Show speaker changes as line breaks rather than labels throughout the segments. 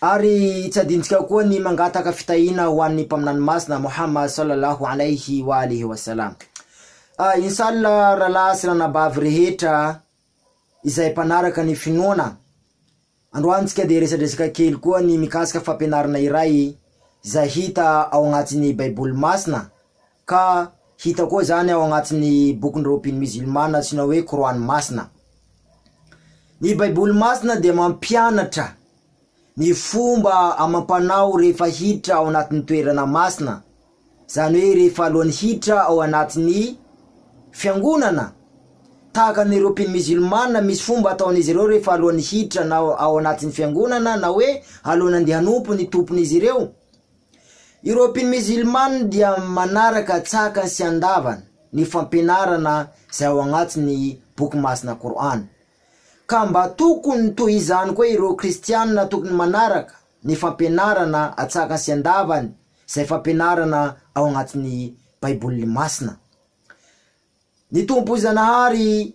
Ary tsy adintsika koa ny mangataka fitahiana ho an'ny Mpaminany Masina Muhammad sallallahu alayhi wa alihi wa sallam. Ah, inshallah rahalahy sy ranabavy rehetra izay mpanaraka ny finoana, androantsika dia resadresaka kely koa ny mikasika fampianarana iray izay hita ao agnatin'ny Baiboly Masina Ka hita koa izany ao agnatin'ny bokin'ny Raobin Mizilmana atsoina hoe Kor'any Masina. Ny Baiboly Masina dia mampianatra ny fomba amam-panao rehefa hiditra ao anatin'ny toerana masina, izany hoe rehefa alohan'ny hiditra ao anatin'ny fiangonana. Tahaka ny Raobin Mizilmana, misy fomba ataon'izy ireo rehefa alohan'ny hiditra na ao anatin'ny fiangonana na hoe alohan'ny andeha hanompo ny tompon'izy ireo. Ireo mpino mizilmana dia manaraka tsakany sy andavany ny fampianarana izay ao agnatin'ny boky masina Kor'any. Ka mba tokony toy izany koa ireo kristianina tokony manaraka ny fampianarana atsakany sy andavany izay fampianarana ao agnatin'ny Baiboly masina. Ny Tompo Zanahary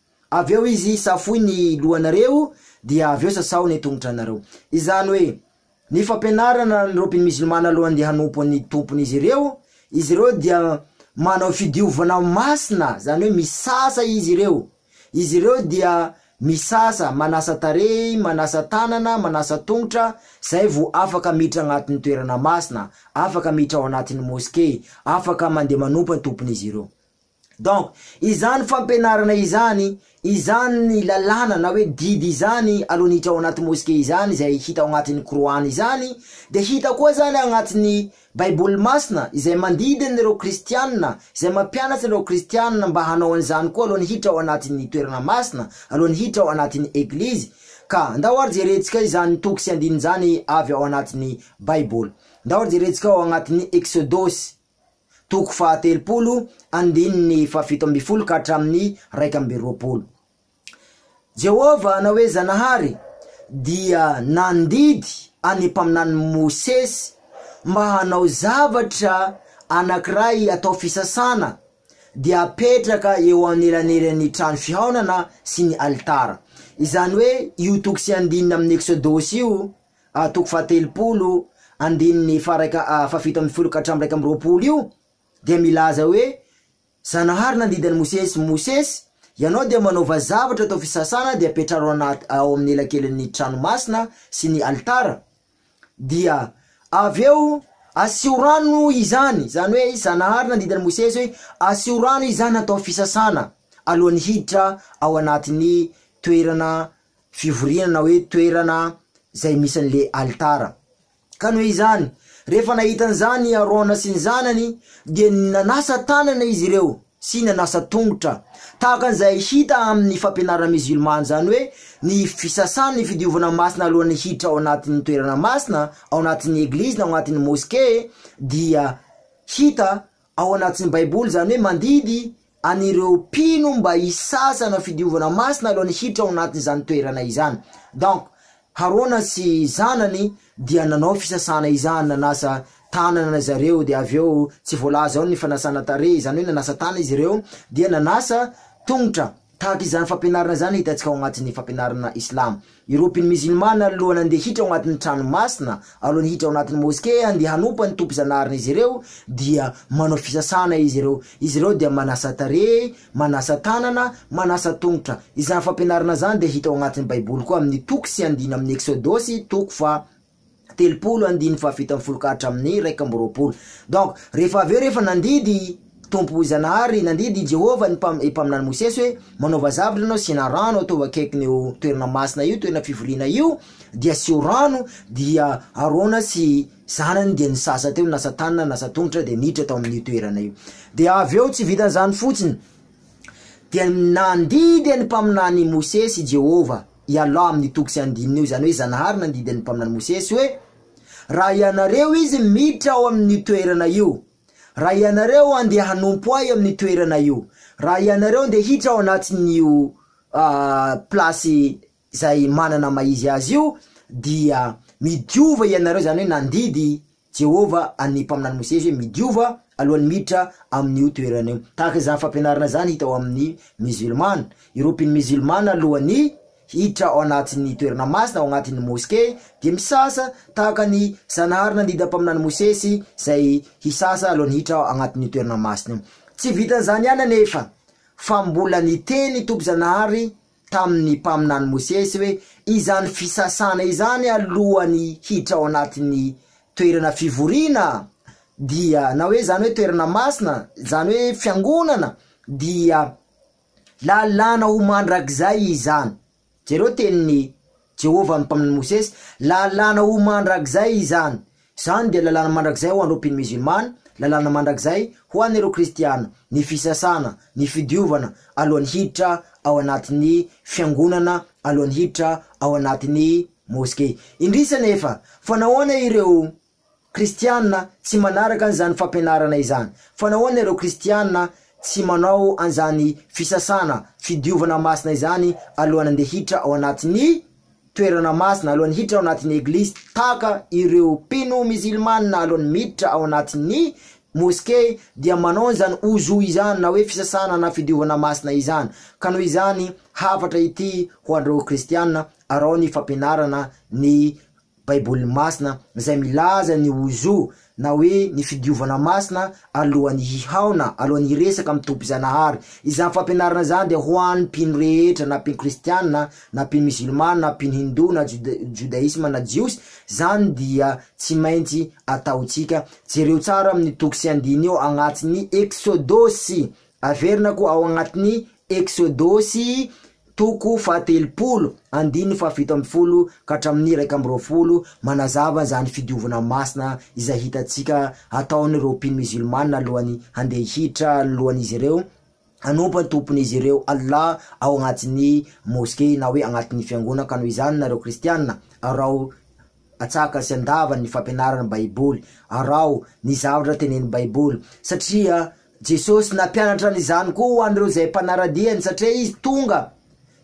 Avy eo izy safoy ny lohanareo dia avy eo sasao ny tongotranareo. Izany hoe, ny fampianarana ny Robin Mizilmana alohan'ny dia hanompo ny Tompon'izy ireo, izy ireo dia manao fidiovana masina, izany hoe misasa izy ireo, izy ireo dia misasa, manasa tarehy, manasa tanana, manasa tongotra, izay vao afaka miditra agnatin'ny toerana masina, afaka miditra ao anatin'ny Moske, afaka mandeha manompo ny Tompon'izy ireo. Donc izany fampianarana izany, izany lalàna na hoe didy izany alonitra ao anaty mosquée izany izay hita ao anatin'ny Qur'an izany dia hita koa zany agnatin'ny baiboly masina izay mandidy an'ireo kristianina, izay mampianatra an'ireo kristianina mba hanao an'izany koa alohan'ny hiditra ao anatin'ny toerana masina, alohan'ny hiditra ao anatin'ny eglizy, ka ndao ary jerentsika izany toko sy andininy izany avy ao anatin'ny baiboly, ndao ary jerentsika ao anatin'ny Eksodosy. toko fahatelopolo andininy fahafito ambin'ny folo ka hatramin'ny iraika amby roapolo. Jehovah na hoe Zanahary dia nandidy an'ny mpaminany Mosesy mba hanao zavatra anankiray atao fisasana dia apetraka eo anelanelan'ny trano fihaonana sy ny alitara. Izany hoe io toko sy andininy amin'ny Eksodosy io a toko fahatelopolo andininy faharaika fahafito ambin'ny folo ka hatramin'ny iraika amby roapolo io dia milaza hoe Zanahary nandidy an'i Mosesy, Mosesy, ianao dia manaova zavatra atao fisasana dia apetraro anaty ao amin'ny elakelin'ny trano masina sy ny alitara, dia avy eo asio rano izany, izany hoe Zanahary nandidy an'i Mosesy hoe asio rano izany atao fisasana alohan'ny hiditra ao anatin'ny toerana fivoriana na hoe toerana izay misy an'le alitara. Ka noho izany, rehefa nahita an'izany i Arona sy ny zanany dia nanasa tanana izy ireo sy nanasa tongotra, tahaka an'izay hita amin'ny fampianarana mizilmana, izany hoe ny fisasana, ny fidiovana masina alohan'ny hiditra ao anatin'ny toerana masina, ao anatin'ny eglizy na ao anatin'ny moske dia hita ao anatin'ny Baiboly, izany hoe mandidy an'ireo mpino mba hisasa hanao fidiovana masina alohan'ny hiditra ao anatin'izany toerana izany. Donc, Harona sy zanany dia nanao fisasana izany, nanasa tanana zareo, dia avy eo tsy voalaza ao ny fanasana tarehy, izany hoe nanasa tana izy ireo, dia nanasa tongotra. Tahaka izany fampianarana izany hitantsika ao anatin'ny fampianarana islamo. Ireo mpino mizilmana alohan'ny handeha hiditra ao anatin'ny trano masina, alohan'ny hiditra ao anatin'ny moskea handeha hanompa ny Tompo Zanahary n'izy ireo dia manao fisasana izy ireo. Izy ireo dia manasa tarehy, manasa tanana, manasa tongotra. Izany fampianarana izany dia hita ao anatin'ny baiboly koa amin'ny toko sy andininy amin'ny Eksodosy toko faha. telopolo andininy fahafito ambin'ny folo ka hatramin'ny iraika amby roapolo. Donc rehefa avy eo rehefa nandidy Tompo Zanahary, nandidy i Jehovah ny mpam- mpaminany Mosesy hoe manaova zavatra ianao, asiana rano, ataovy akaikin' io toerana masina io, toerana fivoriana io, dia asio rano, dia Arona sy zanany dia nisasa teo, nasa tanana, nasa tongotra dia niditra tao amin'io toerana io. Dia avy eo tsy vitan'izany fotsiny dia nandidy ny mpaminany Mosesy i Jehovah. i Allah amin'ny toko sy andininy eo, izany hoe Zanahary nandidy ny Mpaminany Mosesy hoe, Raha ianareo izy miditra ao amin'io toerana io, raha ianareo andeha hanompo Ahy amin'ny toerana io, raha ianareo andeha hiditra ao anatin'io place izay manana maha izy azy io, dia midiova ianareo, izany hoe nandidy Jehovah an'ny mpaminany Mosesy hoe, Midiova alohan'ny miditra amin'io toerana io. Tahaka izany fampianarana izany hita ao amin'ny Mizilmana. Ireo mpino Mizilmana alohan'ny hiditra ao anatin'ny toerana masina, ao anatin'ny moske, dia misasa tahaka ny Zanahary nandidy mpaminany Mosesy izay hisasa alohan'ny hiditra ao anatin'io toerana masina io. Tsy vitan'izany ihany anefa fa mbola niteny Tompo Zanahary tamin'ny mpaminany Mosesy hoe izany fisasana izany alohan'ny hiditra ao anatin'ny toerana fivoriana dia na hoe izany hoe toerana masina izany hoe fiangonana dia lalàna ho mandrakizay izany. Jereo tenin'i Jehovah no mpaminany Mosesy, lalàna ho mandrakizay izany. Izany dia lalàna mandrakizay ho an'ireo mpino mizilmana, lalàna mandrakizay ho an'ireo kristiana, ny fisasana, ny fidiovana alohan'ny hiditra ao anatin'ny fiangonana, alohan'ny hiditra ao anatin'ny moske. Indrisy anefa, fa nahoana ireo Kristiana tsy manaraka an'izany fampianarana izany. Fa nahoana ireo Kristiana tsy manao an'izany fisasana, fidiovana masina izany alohan'ny handeha hiditra ao anatin'ny toerana masina, alohan'ny hiditra ao anatin'ny eglizy, tahaka ireo mpino mizilmana alohan'ny miditra ao anatin'ny moskey dia manao an'izany wuzu izany na hoe fisasana na fidiovana masina izany? Ka noho izany hafatra ity ho an'ireo Kristiana, araho ny fampianarana ny Baiboly Masina izay milaza ny ho zo na hoe ny fidiovana masina alohan'ny hihaona, alohan'ny hiresaka amin'ny Tompo Zanahary. Izany fampianarana izany dia ho an'ny mpino rehetra na mpino kristiana na mpino mizilmana na mpino hindoa na joda- jodaisma na jiosy, izany dia tsy maintsy ataontsika. Jereo tsara amin'ny toko sy andininy eo agnatiny Eksodosy Averina koa ao agnatin'ny Eksodosy toko fahatelopolo andininy fahafito ambin'ny folo ka hatramin'ny iraika amby roapolo manazava an'izany fidiovana masina izay hitantsika ataon'ireo mpino mizilmana alohan'ny handeha hihitra alohan'izy ireo hanompo an'i Tompon'izy ireo Allah ao agnatin'ny Moske na hoe agnatin'ny fiangonana ka noho izany nareo Kristiana arao Atsaka sy andava ny fampianarana Baiboly. Araho ny zavatra tenenin'ny Baiboly, satria Jesosy nampianatra an'izany koa ho an'ireo izay mpanara-diany, satria Izy tonga,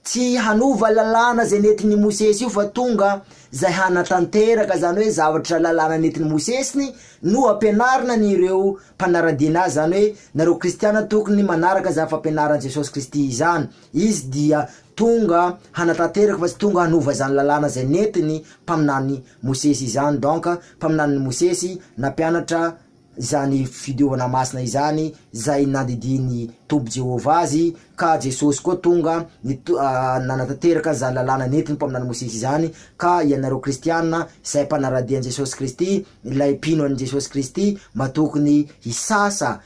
tsy hanova lalàna izay nentin'i Mosesy io, fa tonga izay hanatanteraka izany hoe zavatra lalàna nentin'i Mosesy no hampianarina an'ireo mpanara-dian'Azy, izany hoe nareo kristiana tokony manaraka izany fampianaran'i Jesosy Kristy izany. Izy dia tonga hanatanteraka fa tsy tonga hanova izany lalàna izay nentin'ny mpaminany Mosesy izany, donc mpaminanin'i Mosesy nampianatra izany fidiovana masina izany izay nandidian'ny Tompo Jehovah azy, ka Jesosy koa tonga nito- nanatanteraka an'izany lalàna nentin'ny mpaminany Mosesy izany, ka ianareo kristiana izay mpanara-dia an'i Jesosy Kristy, ilay mpino an'i Jesosy Kristy mba tokony hisasa